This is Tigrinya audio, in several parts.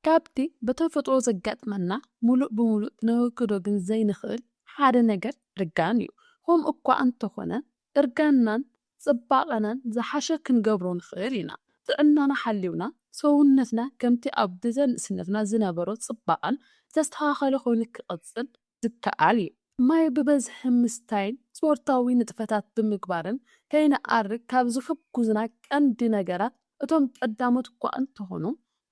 ካብቲ ብተፈጥሮ ዘጋጥመና ምሉእ ብምሉእ ክነወግዶ ግን ዘይንኽእል ሓደ ነገር እርጋን እዩ። ከምኡ እኳ እንተኾነ እርጋንናን ጽባቐናን ዝሓሸ ክንገብሮ ንኽእል ኢና። ጥዕናና ሓሊውና ሰውነትና ከምቲ ኣብ ግዘ ንእስነትና ዝነበሮ ጽባቐን ዝተስተኻኸለ ኮይኑ ክቕጽል ዝከኣል እዩ። ማይ ብበዝሒ ምስታይን ስፖርታዊ ንጥፈታት ብምግባርን ከይንኣርግ ካብ ዝሕጉዙና ቀንዲ ነገራት እቶም ቀዳሞት እኳ እንተኾኑ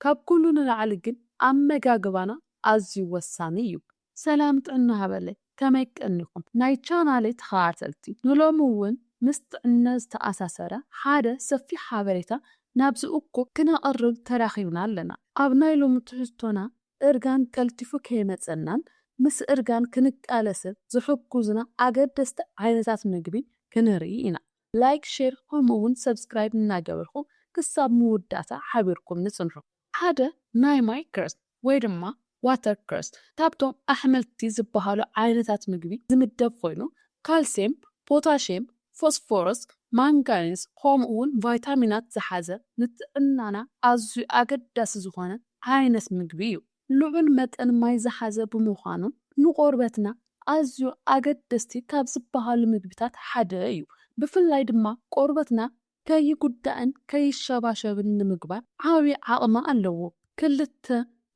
ካብ ኩሉ ንላዕሊ ግን ኣመጋግባና ኣዝዩ ወሳኒ እዩ። ሰላም ጥዕና ሃበለይ ከመይ ቀኒኹም ናይ ቻናለይ ተኸታተልቲ ንሎሚ ውን ምስ ጥዕና ዝተኣሳሰረ ሓደ ሰፊሕ ሓበሬታ ናብዚ እኩብ ክነቕርብ ተራኺብና ኣለና ኣብ ናይ ሎሚ ትሕዝቶና እርጋን ቀልጢፉ ከይመጸናን ምስ እርጋን ክንቃለስን ዝሕጉዙና ኣገደስቲ ዓይነታት ምግቢ ክንርኢ ኢና። ላይክ ሼር ከምኡ ውን ሰብስክራይብ እናገበርኩም ክሳብ ምውዳእታ ሓቢርኩምኒ ጽንሑ። ሓደ ናይ ማይ ክረስት ወይ ድማ ዋተር ክረስት ካብቶም ኣሕምልቲ ዝበሃሉ ዓይነታት ምግቢ ዝምደብ ኮይኑ ካልሴም ፖታሼም ፎስፎረስ፣ ማንጋኒዝ ከምኡ'ውን ቫይታሚናት ዝሓዘ ንጥዕናና ኣዝዩ ኣገዳሲ ዝኾነ ዓይነት ምግቢ እዩ። ልዑል መጠን ማይ ዝሓዘ ብምዃኑ ንቆርበትና ኣዝዩ ኣገደስቲ ካብ ዝበሃሉ ምግብታት ሓደ እዩ። ብፍላይ ድማ ቆርበትና ከይጉዳእን ከይሸባሸብን ንምግባር ዓቢ ዓቕሚ ኣለዎ። ክልተ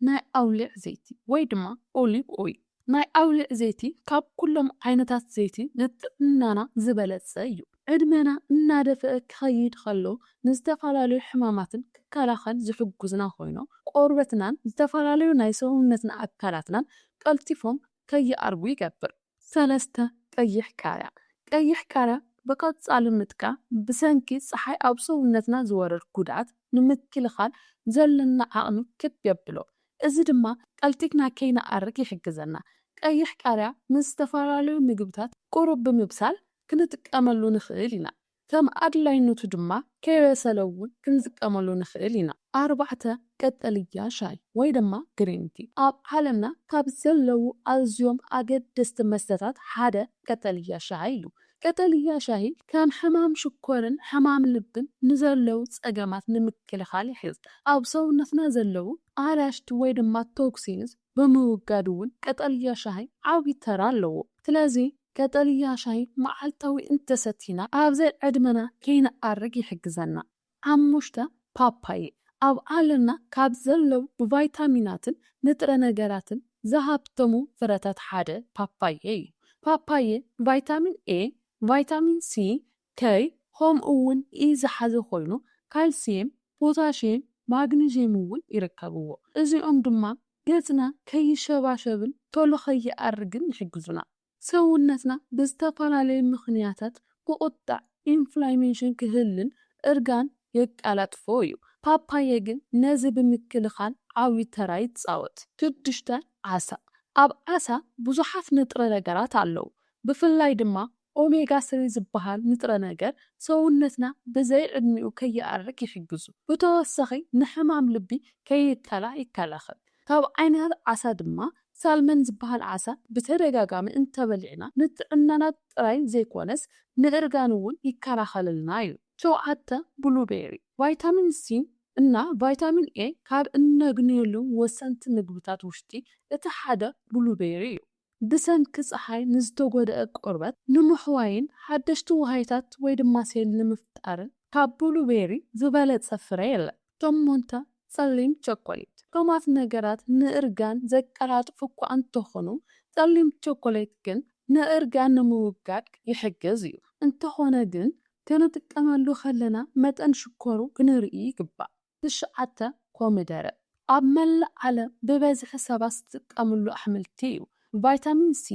ናይ ኣውሊዕ ዘይቲ ወይ ድማ ኦሊቭ ኦይል፣ ናይ ኣውሊዕ ዘይቲ ካብ ኩሎም ዓይነታት ዘይቲ ንጥዕናና ዝበለጸ እዩ። ዕድመና እናደፍኣ ክኸይድ ከሎ ንዝተፈላለዩ ሕማማትን ክከላኸል ዝሕጉዝና ኮይኑ ቆርበትናን ዝተፈላለዩ ናይ ሰውነትና ኣካላትናን ቀልጢፎም ከይኣርጉ ይገብር። ሰለስተ፣ ቀይሕ ቃርያ፣ ቀይሕ ቃርያ ብቐጻሊ ምጥቃም ብሰንኪ ጸሓይ ኣብ ሰውነትና ዝወርድ ጉድኣት ንምክልኻል ዘሎና ዓቕሚ ክብ የብሎ፣ እዚ ድማ ቀልጢፍና ከይንኣርግ ይሕግዘና። ቀይሕ ቃርያ ምስ ዝተፈላለዩ ምግብታት ቁሩብ ብምብሳል ክንጥቀመሉ ንኽእል ኢና። ከም ኣድላይነቱ ድማ ከይበሰለ እውን ክንጥቀመሉ ንኽእል ኢና። ኣርባዕተ፣ ቀጠልያ ሻሂ ወይ ድማ ግሪን ቲ። ኣብ ዓለምና ካብ ዘለዉ ኣዝዮም ኣገደስቲ መስተታት ሓደ ቀጠልያ ሻሂ እዩ። ቀጠልያ ሻሂ ከም ሕማም ሽኮርን ሕማም ልብን ንዘለዉ ጸገማት ንምክልኻል ይሕግዝ። ኣብ ሰውነትና ዘለዉ ኣላሽቲ ወይ ድማ ቶክሲንስ ብምውጋድ እውን ቀጠልያ ሻሂ ዓቢ ተራ ኣለዎ። ስለዚ ቀጠልያ ሻሂ መዓልታዊ እንተሰቲና ኣብ ዘይ-ዕድመና ከይንኣርግ ይሕግዘና። ሓሙሽተ፣ ፓፓየ ኣብ ዓለምና ካብ ዘለዉ ብቫይታሚናትን ንጥረ ነገራትን ዝሃብተሙ ፍረታት ሓደ ፓፓየ እዩ። ፓፓየ ቫይታሚን ኤ፣ ቫይታሚን ሲ፣ ከይ ኸም ኡውን ኢ ዝሓዘ ኾይኑ ካልስየም ፖታሽየም ማግኒዥየም እውን ይርከብዎ እዚኦም ድማ ገጽና ከይሸባሸብን ቶሎ ከይኣርግን ይሕግዙና ሰውነትና ብዝተፈላለየ ምኽንያታት ብቁጠዕ ኢንፍላሜሽን ክህልን እርጋን የቃላጥፎ እዩ ፓፓየ ግን ነዚ ብምክልኻል ዓብዩ ተራ ይጻወት። ሽዱሽተ ዓሳ ኣብ ዓሳ ብዙሓት ንጥረ ነገራት ኣለዉ ብፍላይ ድማ ኦሜጋ ስሪ ዝበሃል ንጥረ ነገር ሰውነትና ብዘይ ዕድሚኡ ከይኣርግ ይሕግዙ። ብተወሳኺ ንሕማም ልቢ ከይከላእ ይከላኸል። ካብ ዓይነታት ዓሳ ድማ ሳልመን ዝበሃል ዓሳ ብተደጋጋሚ እንተበሊዕና ንጥዕናና ጥራይ ዘይኮነስ ንእርጋን እውን ይከላኸለልና እዩ። ሸውዓተ፣ ብሉ ቤሪ ቫይታሚን ሲ እና ቫይታሚን ኤ ካብ እነግንየሎም ወሰንቲ ምግብታት ውሽጢ እቲ ሓደ ብሉ ቤሪ እዩ። ብሰንኪ ጸሓይ ንዝተጎድኣ ቆርበት ንምሕዋይን ሓደሽቲ ዋህይታት ወይ ድማ ሴል ንምፍጣርን ካብ ብሉ ቤሪ ዝበለጸ ፍረ የለን። ሸሞንተ፣ ጸሊም ቸኮሌት፣ ጥዑማት ነገራት ንእርጋን ዘቀላጥፉ እኳ እንተኾኑ ጸሊም ቸኮሌት ግን ንእርጋን ንምውጋድ ይሕግዝ እዩ። እንተኾነ ግን ክንጥቀመሉ ከለና መጠን ሽኮሩ ክንርኢ ይግባእ። ትሽዓተ፣ ኮሚደረ ኣብ መላእ ዓለም ብበዝሒ ሰባት ዝጥቀምሉ ኣሕምልቲ እዩ። ቫይታሚን ሲ፣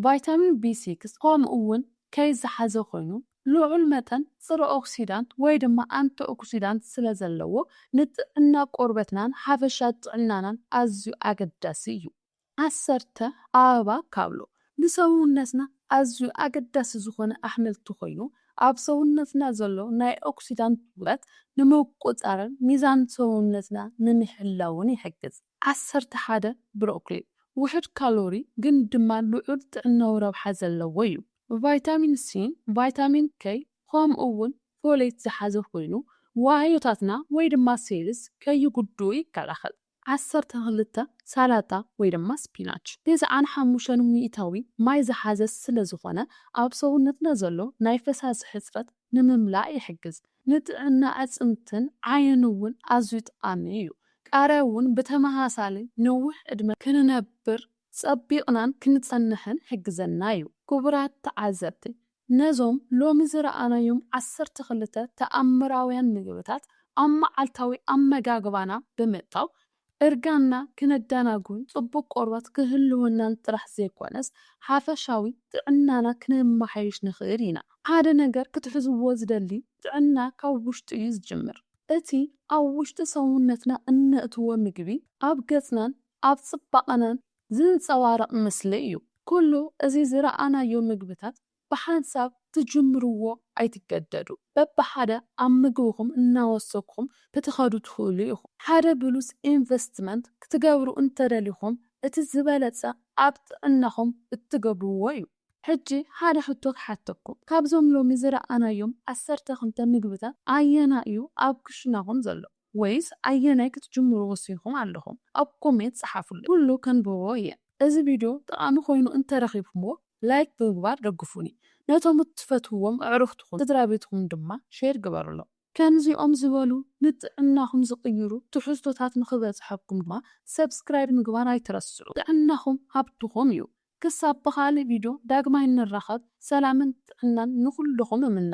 ቫይታሚን ቢ ሲክስ ከምኡ'ውን ከይ ዝሓዘ ኮይኑ፣ ልዑል መጠን ጽረ-ኦክሲዳንት ወይ ድማ ኣንቲኦክሲዳንት ስለ ዘለዎ ንጥዕና ቆርበትናን ሓፈሻ ጥዕናናን ኣዝዩ ኣገዳሲ እዩ። ዓሰርተ፣ ኣበባ ካብሎ ንሰውነትና ኣዝዩ ኣገዳሲ ዝኾነ ኣሕምልቲ ኮይኑ ኣብ ሰውነትና ዘሎ ናይ ኦክሲዳንት ውጥረት ንምቁጽጻርን ሚዛን ሰውነትና ንምሕላውን ይሕግዝ። ዓሰርተ ሓደ፣ ብሮኮሊ ውሑድ ካሎሪ ግን ድማ ልዑል ጥዕናዊ ረብሓ ዘለዎ ዩ። ቫይታሚን ሲን ቫይታሚን ከይ ከምኡ ውን ፎሌት ዝሓዘ ኮይኑ ዋህዮታትና ወይ ድማ ሴልስ ከይጉድኡ ይከላኸል። ዓሰርተ ክልተ ሳላጣ ወይ ድማ ስፒናች ትስዓን ሓሙሽተን ሚኢታዊ ማይ ዝሓዘ ስለ ዝኾነ ኣብ ሰውነትና ዘሎ ናይ ፈሳሲ ሕጽረት ንምምላእ ይሕግዝ። ንጥዕና ኣዕጽምትን ዓይንን እውን ኣዝዩ ጠቓሚ እዩ። ቃርያ እውን ብተመሳሳሊ ነዊሕ ዕድመ ክንነብር ጸቢቕናን ክንጸንሕን ይሕግዘና እዩ። ክቡራት ተዓዘብቲ ነዞም ሎሚ ዝረኣናዮም ዓሰርተ ክልተ ተኣምራውያን ምግብታት ኣብ መዓልታዊ ኣመጋግባና ብምእታው፣ እርጋንና ክነደናጉን ጽቡቕ ቆርበት ክህልወናን ጥራሕ ዘይኰነስ፣ ሓፈሻዊ ጥዕናና ክነመሓይሽ ንኽእል ኢና። ሓደ ነገር ክትሕዝዎ ዝደሊ፣ ጥዕና ካብ ውሽጢ እዩ ዝጅምር። እቲ ኣብ ውሽጢ ሰውነትና እነእትዎ ምግቢ፣ ኣብ ገጽናን ኣብ ጽባቐናን ዝንጸባረቕ ምስሊ እዩ። ኩሉ እዚ ዝረኣናዮ ምግብታት ብሓንሳብ ትጅምርዎ ኣይትገደዱ። በብሓደ ኣብ ምግብኹም እናወሰኹም ክትኸዱ ትኽእሉ ኢኹም። ሓደ ብሉጽ ኢንቨስትመንት ክትገብሩ እንተደሊኹም እቲ ዝበለጸ ኣብ ጥዕናኹም እትገብርዎ እዩ። ሕጂ ሓደ ሕቶ ክሓተኩም፣ ካብዞም ሎሚ ዝረኣናዮም ዓሰርተ ክልተ ምግብታት ኣየናይ እዩ ኣብ ክሽናኹም ዘሎ? ወይስ ኣየናይ ክትጅምሩ ወሲንኩም ኣለኹም ኣብ ኮሜት ጸሓፉለይ ኩሉ ከንብቦ እየ። እዚ ቪድዮ ጠቓሚ ኮይኑ እንተረኺብኩምዎ ላይክ ብምግባር ደግፉኒ ነቶም እትፈትውዎም ኣዕሩኽትኹም ስድራቤትኹም ድማ ሼር ግበሩሎም። ከምዚኦም ዝበሉ ንጥዕናኹም ዝቕይሩ ትሕዝቶታት ንኽበጽሐኩም ድማ ሰብስክራይብ ምግባር ኣይትረስዑ። ጥዕናኹም ሃብትኹም እዩ። ክሳብ ብኻልእ ቪድዮ ዳግማይ እንራኸብ ሰላምን ጥዕናን ንኹልኹም እምነ።